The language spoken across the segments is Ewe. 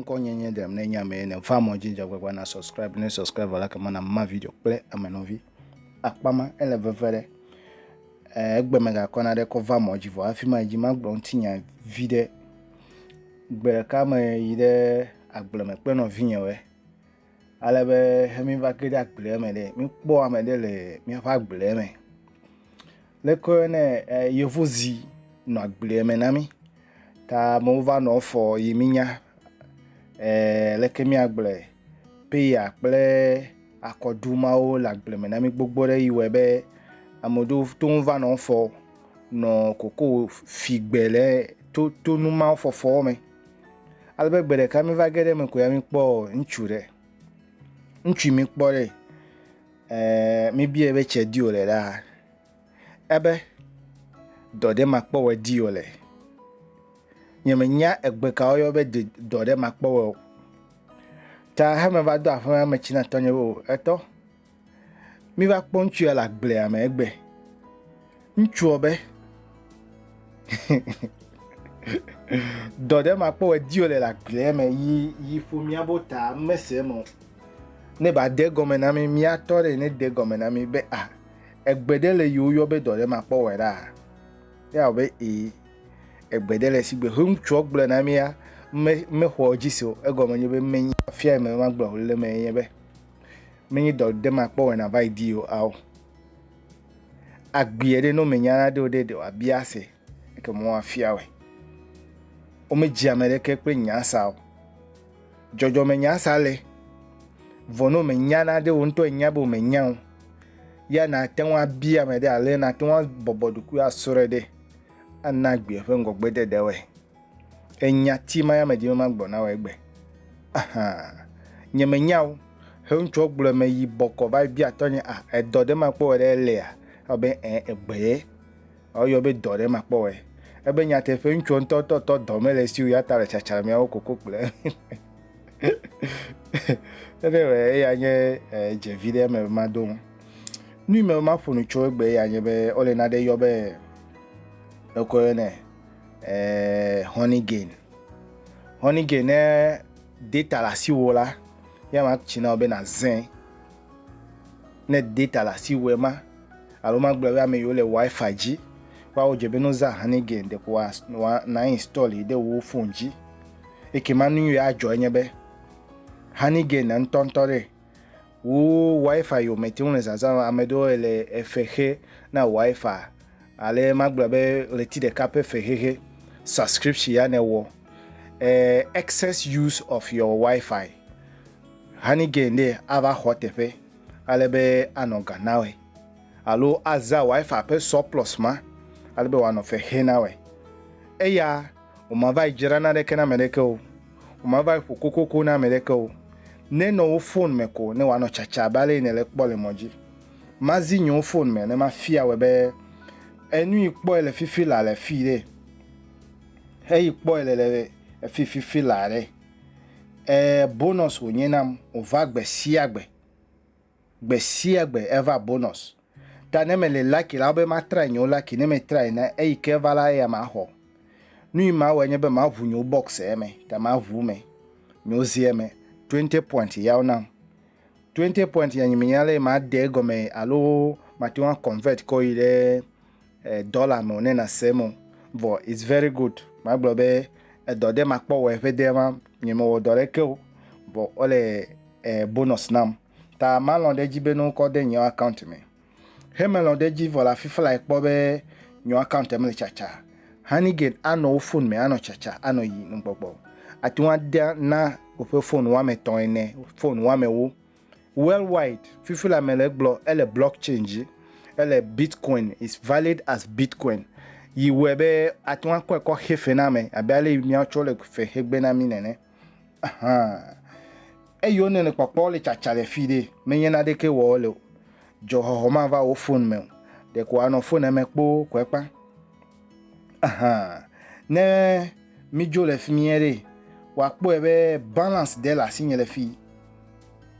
ŋkɔnyenye ɖem ne nya mee ne va mɔ dzi dzagbagba na subscribe ne subscribe la kema na ma video kple amenɔvi akpama ele veve ɖe egbe megakɔna ɖe kɔ va mɔ dzi vɔ hafi ma dzi magblɔ ŋutinya vi ɖe Gbe ɖeka me yi ɖe agble me kple nɔvinye we. Ale be he mi va ge ɖe agblea me ɖe, mi kpɔ ame ɖe le miaƒe agblea me. Le koe ne e yevu zi nɔ agblea me na mi ta amewo va nɔ fɔ yi mi nya e leke mi agble peya kple akɔɖu mawo le agble me na mi gbogbo ɖe yi wɔe be ame ɖewo to ŋu va nɔ fɔ. nɔ kokowò figbe le to tonu mawo fɔfɔwo me. Ale be gbe ɖeka mi va ge ɖe eme ko ya mi kpɔ ŋutsu ɖe. Ŋutsu mi kpɔ ɖe, ɛɛ mi biɛ be tsɛ di wòle ɖaa? Ebe dɔ ɖe ma kpɔ wɔ di wòle. Nye me nya egbe ka woyɔ be de dɔ ɖe ma kpɔ wɔ o. Ta he me va do aƒeme me tsi na tɔnye be o, etɔ, Míva kpɔ ŋutsu ya le agblea me egbe. Ŋutsua be, dɔ ɖe ma kpɔ edi wòle le agblea me yi yi ƒo mía bo ta mese eme o. Ne ba de gɔme na mi, mía tɔ ɖe ne de gɔme na mi be a ah, egbe ɖe le yiwo yɔ be dɔ ɖe ma kpɔ wɔ ɖa. Ya wɔ be ee, egbe ɖe le si gbe he ŋutsua gblɔ na mía me mexɔ dzi se o. Egɔme nye be menyi afia me magblɔ le me nye be. menye dɔ ɖe makpɔ wena va yi di o ao agbie ɖe no menya na ɖe o ɖe ɖe wa bia se ke mo wa fia we o me dzi ame ɖe ke kple nya sa o jɔjɔ me nya sa le vɔ no menya na ɖe o ŋtɔ nya bo menya o ya na te wa bia me ɖe ale na te wa bɔbɔ ɖokuia sore ɖe ana gbie ƒe ŋgɔgbe ɖe ɖe we Enya ti ma ya me dime ma gbɔ na wɔ egbe. Aha. Nye me nyao. He ŋutsɔ gblɔ me yi bɔkɔ va bia tɔ nye a ah, edɔ ɖe ma kpɔ wɔ ɖe elea. Ebe ɛ eh, egbe ye. Ɔyɔ be dɔ ɖe ma kpɔ wɔ. Ebe nyateƒe ŋutsɔ ŋutɔ tɔ tɔ dɔ me le siwo ya ta le tsatsa me awo koko kple. Ebe wɔ eya nye eh, dzevi ɖe me ma do. Nui me ma ƒonu tso egbe ya nye be ole na ɖe yɔ be ekɔ yɔ ne. eh, honey gain. Honey gain ne data le asiwò la, ya ma tsi na be na zẽ. Ne data le asiwò ma, alo ma gblɔ be ame yiwo le wifi dzi, woawo dze be no zã honey gain ɖeko wa wa na install yi ɖe wo phone dzi. Eke ma nu yi adzɔ enye be honey gain ŋutɔŋutɔ ɖe Wo wifi yo me teŋ le zazam ame ɖewo ele efe xe na wifi ale magblɔ be ɣleti ɖeka ƒe fexexe subscription ya ne wɔ e excess use of your wifi honey gain ɖe ava xɔ teƒe ale be anɔ ga nawe alo aza wifi ƒe surplus ma ale be wòanɔ fe xe nawe eya wòmava yi dzra naneke na ame ɖeke o, wòmava yi ƒo kokoko na ame ɖeke o, nenɔ wo fon me ko ne wòanɔ tsatsa abe ale yi nèle ekpɔ le mɔ dzi. Mazi nyiwo fon me ne mafia wòe be enu yi kpɔe le fifi la le fii ɖe? Heyi kpɔe le le efi fifi la ɖe? Ɛɛ, bonɔs wònye nam wòva gbe sia gbe. Gbe sia gbe eva bonus. Ta ne mele lucky la be matry nyewo lucky ne metry na eyi ke va la eya maxɔ. Nui mawɔe nye be maʋu nyewo box eme ta maʋu me. Nyewo zi eme. 20 point yawo nam. 20 point ya nyi menya le made egɔme alo mate ŋu convert kɔ yi ɖe eh, dɔla me ne na se mo vɔ it's very good ma gblɔ be edɔ de ma kpɔ wɔ ƒe de ma nye me wɔ dɔ ɖe ke o vɔ o le eh, bonus nam ta ma lɔ ɖe dzi be no kɔ de nye account me he me lɔ ɖe dzi vɔ la fifa la kpɔ be nye account me le chacha hani gen anɔ wo phone me anɔ chacha anɔ yi nugbɔgbɔ ati ŋu de na woƒe phone wɔme tɔ̃ ene phone wɔme wo Worldwide, fifi la me le gblɔ ele blockchain dzi, ele Bitcoin, is valid as Bitcoin. Yi wɔe be ate ŋu akɔe kɔ xe fe na ame abe ale yi míatsɔ le fe xe gbe na mí nene. Ahan. Eyi wone le kpɔkpɔ le tsatsa le fi ɖe, menye naɖeke wɔ wole o. Dzɔxɔxɔ mava wò fon me o. Ɖeko anɔ fon eme kpoo koe kpa. Ahan, ne mídzo le fi mie ɖe, wòakpɔe be balance ɖe le asinye le fi.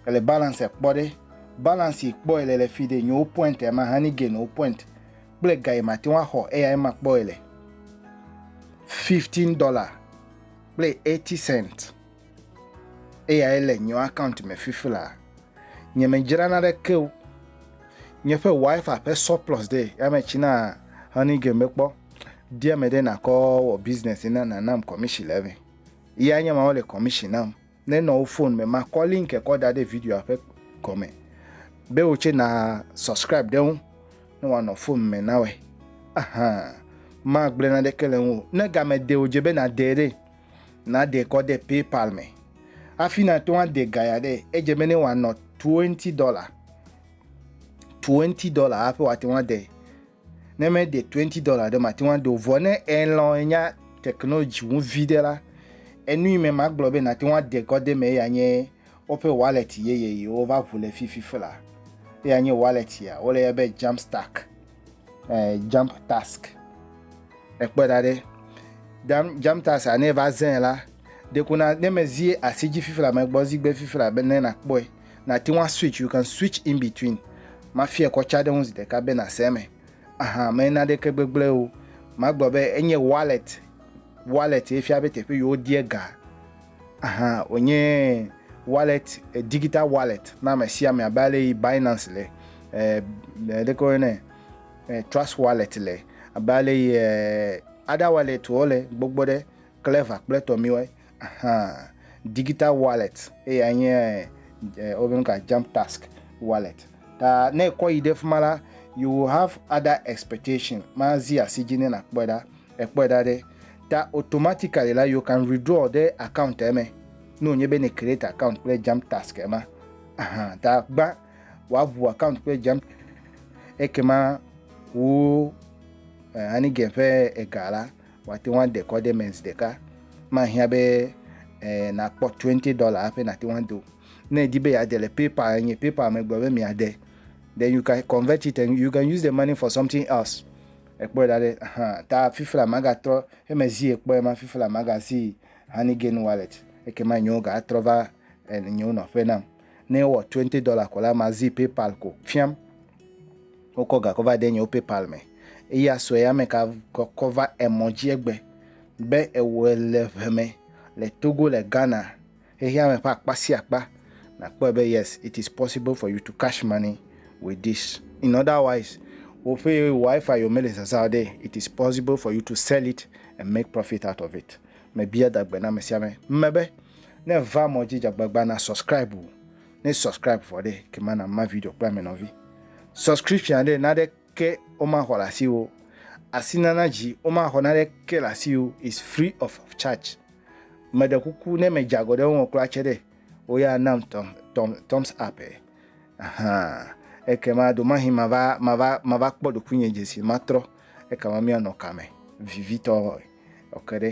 Ele balance kpɔ ɖe. Balance yi kpɔ ele le fi ɖe, nyewo point ya ma hani gain wo point. Kple ga yi mate ŋu axɔ eya ye ma kpɔ ele. Fifteen dollar kple eighty cent. Eyae le nye account me fifila. Nye me dzra na ɖe ke o. Nye ƒe wifi ƒe surplus ɖe ya me tsi na honey game be kpɔ. Dia me ɖe na kɔ wɔ business na na nam commission le me. Ya nye ma wole commission nam. Ne nɔ wo phone me ma kɔ link e kɔ da ɖe video a ƒe gɔme. Be wo tse na subscribe ɖe ŋu. Ne wa nɔ phone me na we. Ahan. Ma gble na ɖe ke le ŋu. Ne game de o dze be na de ɖe. Nàde kɔ ɖe PayPal me hafi nàto ade ga ya ɖe. Edze be ne wòanɔ twenty dollar, twenty dollar hafi wòate ŋu ade. Ne mede twenty dollar ɖe mate ŋu ade o. Vɔ ne elɔ̃ enya technology ŋu vi ɖe la, enu yi me magblɔ be nàte ŋu ade kɔ ɖe eme ya nye woƒe wallet yeye yi wova ŋu le fifi fla. Eya nye wallet ya, wole yɔe be Jamstack. eh, jump task ekpɔ da ɖe jump, jump task ne va zẽ la dekuna ne mezi asi dzi fifla megbɔ zigbe fifla be ne nakpɔe nate ŋu switch you can switch in between mafia kɔ tsa ɖe ŋu zi ɖeka be nase eme aha mena ɖeke gbegblẽ o magblɔ be enye wallet wallet ye fia be teƒe yewo die ga hã wònye wallet, digital wallet na ame sia ame abe ale yi Binance le, ɖeke woyɔnɛ Trust wallet le, abe ale yi other wallet wo le gbogbo ɖe, Clever kple etɔ miwoe hã. Digital wallet eya nye wobe nu ka Jump Task wallet. Ta ne ekɔ yi ɖe fi ma la, you will have other expectation, mazi asi dzi ne nàkpɔe ɖa Ekpɔe ɖa ɖe, ta automatically la you can withdraw ɖe account eme. Ne wònye be ne create account kple jump task ema, aha, ta gbã wòaʋu account kple jump ekema wo eh, anigen ƒe ega la wòate ŋu ade kɔ ɖe eme zi ɖeka. Mahiã be eh, nakpɔ 20 dollar hafi nate ŋu ado. Ne èdi be yeade le PayPal enye PayPal megblɔ be miade. Then you can convert it and you can use the money for something else. Ekpɔe da ɖe hã ta fifla magatrɔ heme zi ekpɔe ma fifla magazi honey gain wallet ekema nyewo ga atrɔ va en nyewo nɔƒe nam ne ewɔ twenty dollar ko la mazi paypal ko fiam wokɔ ga kɔ va de nyewo paypal me eya sɔe ame ka kɔ kɔ va emɔ dzi egbe be ewɔe le ʋe me le togo le ghana Xexeame ƒe akpa sia akpa nàkpɔe be yes it is possible for you to cash money with this in other wise woƒe wifi yio mele zazã o ɖe it is possible for you to sell it and make profit out of it mebia da gbe na amesiame mme be ne èva mɔ dzi dzagbagba na subscribe o ne subscribe vɔ ɖe ekema na ma video kple ame nɔvi subscription ɖe na ɖe ke womaxɔ le asiwò o, asinana dzi womaxɔ naneke le asiwò o, is free of charge. Meɖe kuku ne medze agɔ ɖe wo ŋu kura tse ɖe, woya nam tɔm tɔm thumbs up ɛ. Ahan, ekema ɖomahi mava mava mava kpɔ ɖokuinye dze si matrɔ ekama mianɔ kame vivitɔ ɔ ke ɖe.